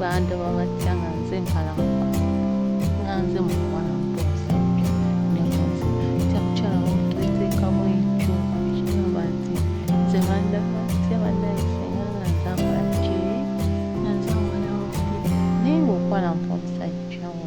bantu babatya nga nze nkalamuka nga nze mukuwana mpozi nemuzi kyakukyala wamutwetekamu ekyo ekigamba nti nze bandaba tya banayise nga nga nzambala kiri nga nzambala wafuli naye ngaokuwana mpa omusajja wo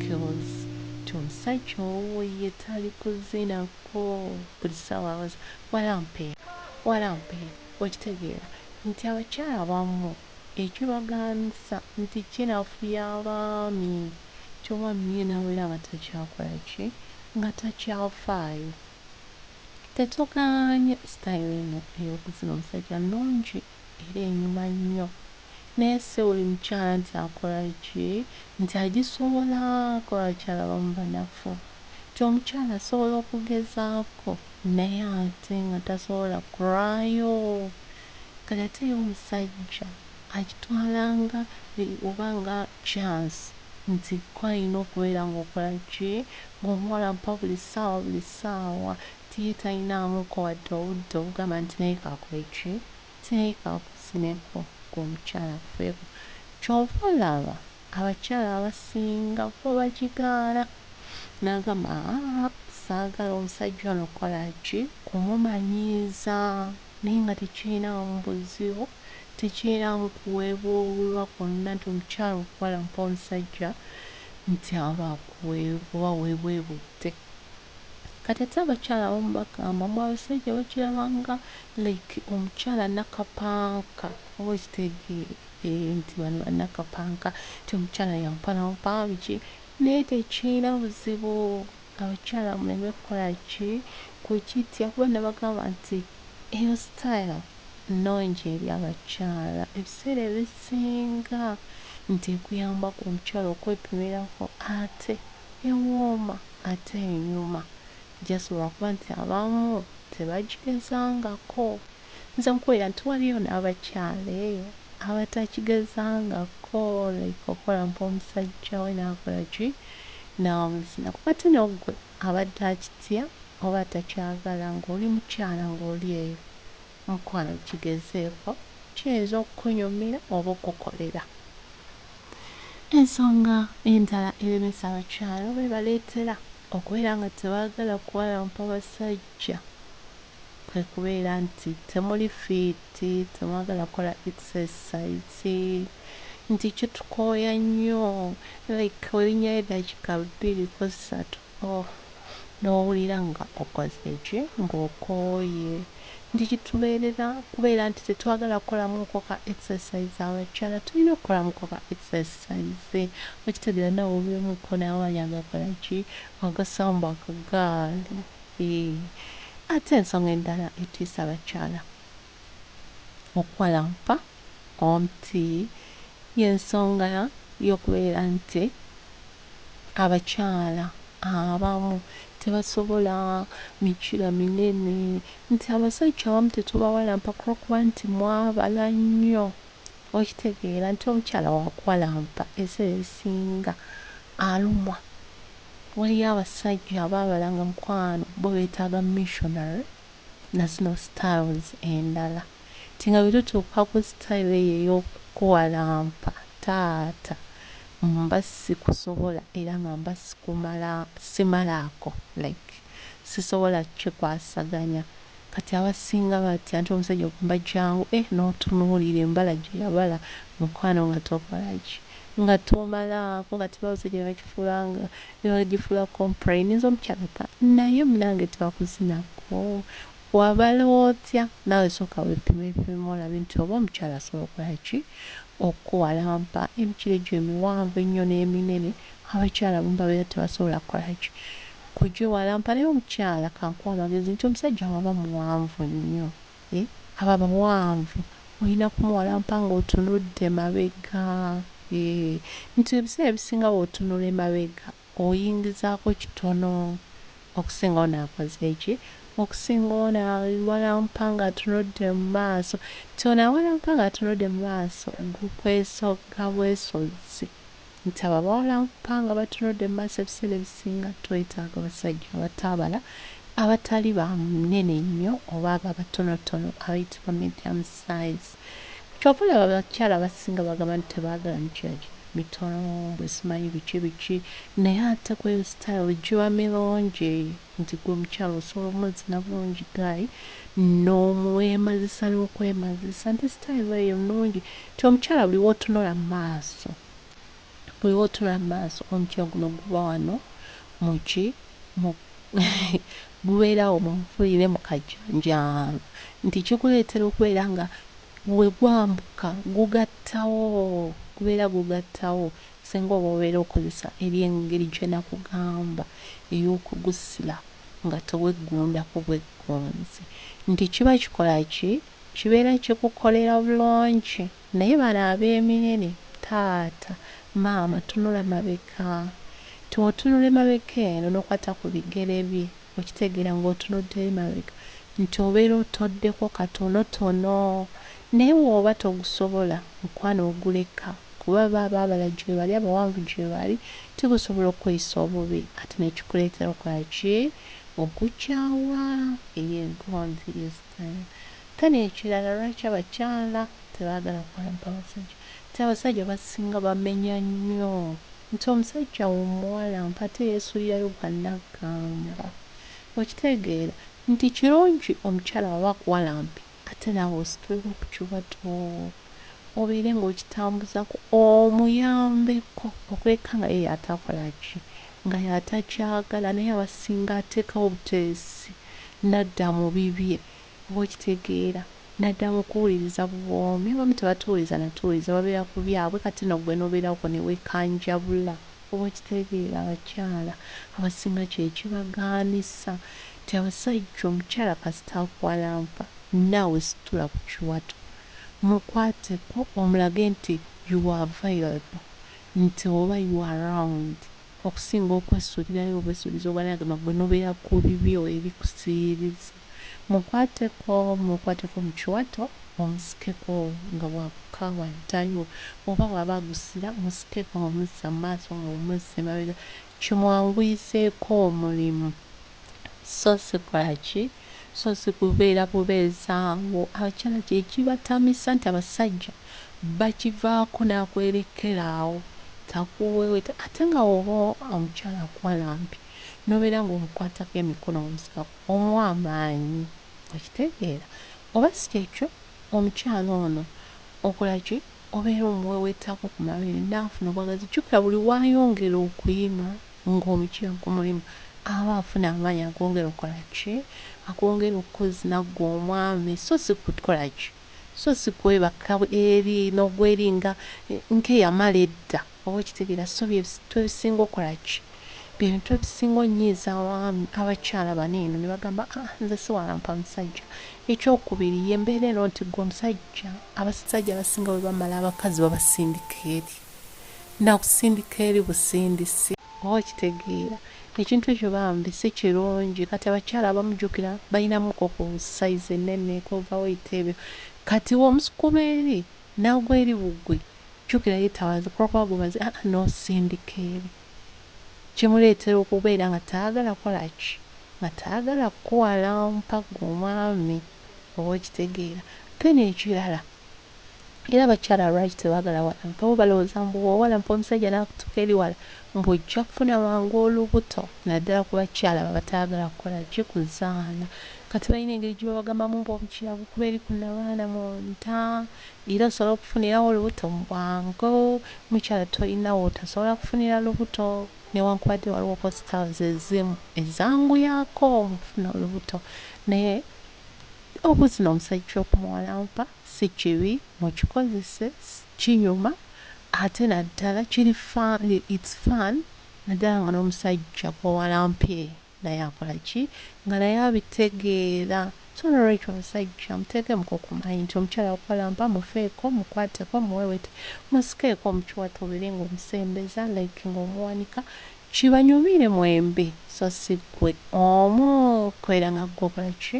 kills nti omusajja owo ye tali kuzina ko buli sawa abaza walampe walampe okitegeera nti abakyala abamu ekibagaanisa nti kinafuya abaami nti omwami ye nawera nga takyakola ki nga takyafaayo tetugaanye style eno eyokuzina omusajja nungi era enyuma nnyo naye siwuli mukyala nti akola ki nti agisobola kuba abakyala abamu banafu nti omukyala asobola okugezaako naye ate nga tasobola kulwayo kati ate ye omusajja akitwala nga oba nga chance nti ko alina okubeera nga okola ki nga omuwalampa buli ssaawa buli ssaawa Ttiiyi talinaamuko wadde obudde obugamba nti naye kakole ki, nti naye kankuzineko, ggwe omukyala nfeeko. Ky'ova olaba abakyala abasinga bo bagigaana n'agamba, Haa, saagala omusajja ono kukola ki? Kumumanyiiza naye nga tekirinaamu buzibu, tekirinaamu kuweebuulwa kwonna nti omukyala okukola ng'omusajja nti aba akuweebwa weebuebudde. Kati ate abakyala abamu bagamba mbu abasajja bakiraba nga like omukyala nakapanka oba okitegeera eeh nti bano banakapanka nti omukyala yampalampa biki naye tekirina buzibu abakyala muleme kukola ki kukitya kuba nabagamba nti eyo style nungi eri abakyala ebiseera ebisinga nti ekuyambako omukyala okwepimirako ate ewooma ate enyuma just lwakuba nti abamu tebagigezangako nze nkubira nti waliyo nabakyala eyo abatakigezangako like okola mpa omusajja we nakola ki nawezina kuba ate nogwe abadde akitya oba atakyagala nga oli mukyala nga oli eyo. Mukwano kigezeeko kiyinza okukunyumira oba okukukolera. Ensonga endala eremesa abakyala oba ebaleetera okubeera nga tebaagala kuwalampa basajja kwe kubeera nti temuli fiiti, temwagala kukola exercise, nti kitukooya nnyo like olinnyayo eddakiika bbiri ko ssatu Oh, n'owulira nga okoze ki? Nga okooye. Nti kitubeerera kubeera nti tetwagala kukolamuuko ka exercise. Abakyala tulina okukolamuuko ka exercise. Okitegeera naawe obeemuuko naye amanyi agakola ki? Agasamba akagaali. Eeh. Ate ensonga endala etiisa abakyala. Okuwalampa omuti y'ensonga y'okubeera nti abakyala abamu tebasobola mikira minene nti abasajja abamu tetubawalampa ku lw'okuba nti mwabala nnyo, okitegeera nti omukyala wakuwalampa ebiseera ebisinga alumwa. Waliyo abasajja abaabala nga mukwano bo beetaaga missionary nazino styles endala nti nga bwetutuuka ku style eyo eyokukuwalampa taata mba sikusobola era nga mba simalaako like sisobola kikwasaganya kati abasinga batya nti omusajja ogamba jangu eeh notunuulira embala gyeyabala mukwano nga tokolaki nga tomalaako kati bawo kyebakifuula nga Newagifula compra eninza omukyala ta naye munange twakuzina hoo wabala otya nawe soka wepime pime olabe nti oba omukyala asobola okola ki okukuwalampa emikira egyo emiwanvu ennyo neminene abakyala abamu babera tebasobola kola ki kugyewalampa naye omukyala kankuwe amagezi nti omusajja waba muwanvu nnyo Eeh abo abawanvu oyina kumuwalampa nga otunudde mabega eeh nti ebiseera ebisinga bwotunula emabega oyingizako kitono okusinga ono akoze ki okusinga ono awalampa nga atunudde mumaaso nti ono awalampa nga atunudde mumaaso gukwesogga bwesogzi nti ababawala nfa nga batunudde mumaaso ebiseera ebisinga twetaaga abasajja abataabala abatali ba munene nnyo oba abo abatonotono abayitibwa medium size kyova olaba abakyala abasinga bagamba nti tebagala mikyala mitono mbu simanyi biki biki naye ate kweyo style giba milungi. Nze gwe mukyala osobola omazina bulungi guy no mwemazisa nokwemazisa nti style eyo nungi nti omukyala buli wotunula mumaaso buli wotunula mumaaso omukyala guno guba wano muki mu gubeera awo munfulire mukajanjaalo nti kikuleetera okubeera nga wegwambuka gugattawo gubeera gugattawo. Ssenga oba obeera okozesa eri engeri gye nakugamba ey'okugusila nga teweggundako bweggunzi nti kiba kikola ki? Kibeera kikukolera bulungi naye bano ab'eminene taata, maama tunula mabega nti wotunula emabega eno nokwata ku bigere bye okitegeera nga otunudde emabega nti obeera otoddeko katonotono Naye woba togusobola mukwano oguleka kuba baaba abala gyebali abawanvu gyebali tebasobola okukweyisa obubi ate nekikuletera okola ki okukyawa eyo engonzi yesitani ate nekirala lwaki abakyala tebagala kukola mpabasajja nti abasajja abasinga bamenya nnyo nti omusajja womuwala mpate yesulirayo gwa nagamba okitegeera nti kirungi omukyala bwaba akuwalampi Ate naawe ositulemu ku kiwato obeere ng'okitambuzaako omuyambeko okwekanga ye y'atakola ki nga y'atakyagala naye abasinga ateekawo buteesi n'adda mu bibye oba okitegeera n'adda mu kuwuliriza buwoomi abamu tebatuwuliza na tuwuliza babeera ku byabwe kati nno ggwe n'obeera okwo ne weekanjabula. Oba okitegeera abakyala abasinga kyekibagaanisa nti abasajja omukyala kasita akuwalampa naawe situla ku kiwato mukwateko omulage nti you are available nti oba you are round okusinga okwesuulirayo obwesuulizi obwanaga nga gwe nobeera ku bibyo ebikusiiriza. Mukwateko, mukwateko mu kiwato omusikeko nga bw'abuuka waddayo oba bw'aba agusira musikeko ng'omuzza mu maaso ng'omuzza emabega kimwanguyizeeko omulimu so si kukola ki? So si kubeera bubeezi awo. Abakyala kye kibatamisa nti abasajja bakivaako n'akwerekkera awo takuweeweeta ate nga bw'oba omukyala akuwa lampi n'obeera ng'omukwatako emikono ng'omusikako. ow'amaanyi. Okitegeera? Oba si ky'ekyo, omukyala ono, okola ki? Obeera omuweeweetaako ku mabere, n'afuna obwagazi. Jjukira, buli w'ayongera okuyima nga omukyala ku mulimu, aba afuna amaanyi ag'ongera okukola ki? Ag'ongera okuzina ggwe omwami, so si kukola ki? So si kwebaka eri n'ogwa eri nga, nga eyamala edda. Oba okitegera so byebisitwa ebisinga okola ki byebintu ebisinga onyiiza abaami abakyala bano eno nebagamba aah nze siwalampa musajja ekyokubiri yembeera eno nti gwe omusajja abasajja abasinga bwebamala abakazi babasindika eri nakusindika eri busindisi oba okitegeera ekintu ekyo bambi sikirungi kati abakyala abamu jukira balinamu ko ku size enene ku over weight ebyo kati womusukuma eri nagwa eri bugwi jukira ye tawaze kuba kuba gumaze haa nosindika eri kimuletera okubeera nga tayagala kolaki nga tayagala kukuwalampa gwe omwami oba okitegeera then ekirala era abakyala lwaki tebagala awalampa bo balowoza mbu bwowalampa omusajja nakutuka eri wala Mbu ojja kufuna mangu olubuto naddala ku bakyala abo abataagala kukola ki kuzaala. Kati balina engeri gye babagambamu mbu obukira bukuba eri ku nabaana mu nda era osobole okufunirawo olubuto mu bwangu. Mukyala tolina wootasobola kufunira lubuto newankubadde waliwo hospitals ezimu ezanguyaako okufuna olubuto naye obuzina omusajja okumuwalampa. Sikibi mukikozese kinyuma ate naddala kiri fun it's fun naddala nga nomusajja gwowalampye naye akolaki nga naye abitegeera so nolwekyo omusajja muteekemuko kumanyi nti omukyala akuwalampa mufeeko mukwateko muwewete musikeeko mukiwato obeere nga omusembeza like nga omuwanika Kibanyumire mwembi so si gwe omu kubera nga gwe okola ki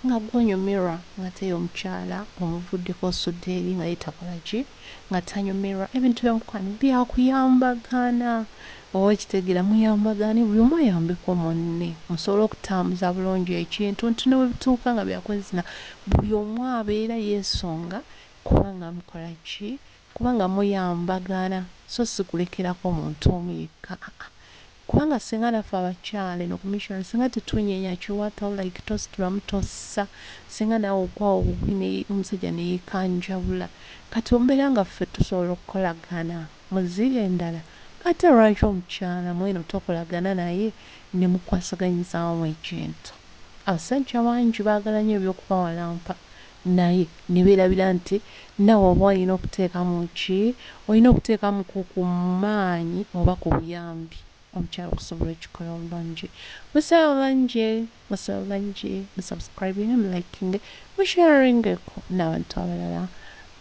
nga gwe onyumirwa ngate ye omukyala omuvuddeko osudde eri nga ye takola ki nga tanyumirwa ebintu byo mukwano byakuyambagana oba okitegera muyambagane buli omu ayambeko munne musobole okutambuza bulungi ekintu nti newebituuka nga byakwezina buli omu abeera yesonga kubanga mukola ki Kubanga muyambagana so si kulekerako muntu omu yekka aa kubanga singa naffe abakyala eno ku mission singa tetunyenya kiwato like tositulamu tossa singa naawe okwawa obugwi ne omusajja ne yekanjawula kati ombeera nga ffe tusobola okukolagana mu zziga endala ate lwaki omukyala mweno tokolagana naye ne mukwasaganyizaamu ekintu abasajja bangi baagala nnyo eby'okubawalampa naye ne beerabira nti naawe oba olina okuteekamu ki? Olina okuteekamuko ku maanyi oba ku buyambi omukyala okusobola okikola obulungi. Musabe bulungi, musabe bulungi, mu subscribinge, mu likinge, mu sharingeko n'abantu abalala.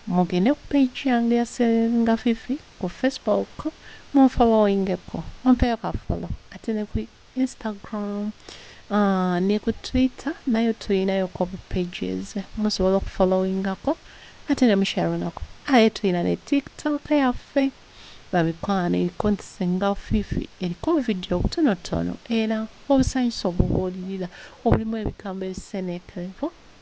Mugende ku page yange eya Selinga Fifi ku Facebook munfolowingeko, mumpeeyo ka follow ate ne ku. Instagram ne ku twitter nayo tulinayo ko bu pages musobola oku followingako ate ne musharingako aye tulina ne tiktok yaffe bamikwano eriko nti singa fifi eriko obuvidiyo obutonotono era obusanyusa obubuulirira obulimu ebigambo ebiseneekerevu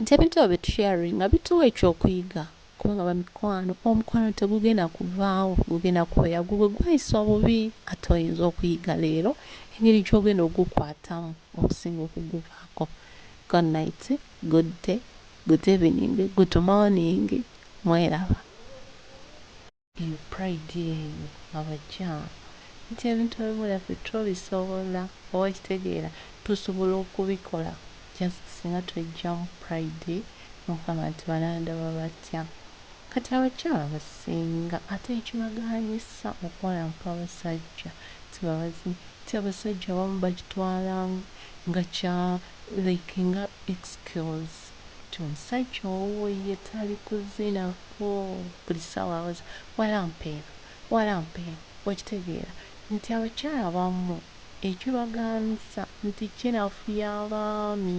nti ebintu ebyo bye tusheyaringa bituwa ekyokuyiga kubanga bamikwano omukwano tegugenda kuvaawo gugenda kubeera gugwe gwayisibwa bubi ate oyinza okuyiga leero engeri gyogenda ogukwatamu okusinga okuguvaako Good night, good day, good evening, good morning mweraba. Eyo pride eyo abakyala nti ebintu ebimu byaffe tubisobola oba okitegeera tusobola okubikola just singa twejjamu pride nogamba nti banandaba batya kati abakyala abasinga ate ekibagaanyisa okuwalampa abasajja sibabazi nti abasajja abamu bakitwala nga kya like nga excuse. Kati omusajja owuwo ye tali kuzina hoo buli sawa awoza walampa eno walampa eno okitegeera nti abakyala abamu ekibagaanisa nti kinafuya abaami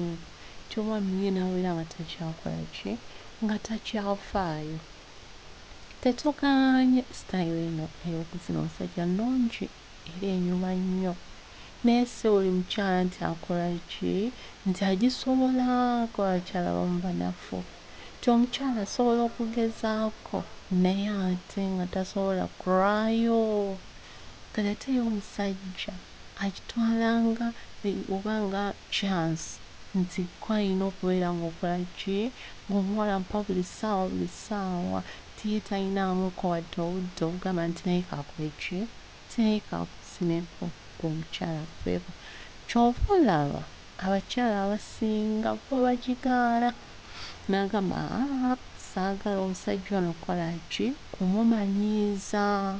nti omwami ye nawera nga takyakola ki nga takyafaayo tetugaanye style eno eyokuzina omusajja nungi. era enyuma nnyo naye si buli mukyala nti akola ki nti agisobola kuba abakyala abamu banafu nti omukyala asobola okugezaako naye ate nga tasobola kulwayo kati ate ye omusajja akitwala nga oba nga chance nti gwe ayina okubeera nga okola ki nga omuwala amupa buli ssaawa buli ssaawa nti ye tayinaamu ko wadde obudde obugamba nti naye kakole ki nti naye kakusime ko gwe omukyala aveeko kyova olaba abakyala abasinga bo bagigaana nagamba aah saagala omusajja ono kukola ki kumumanyiiza.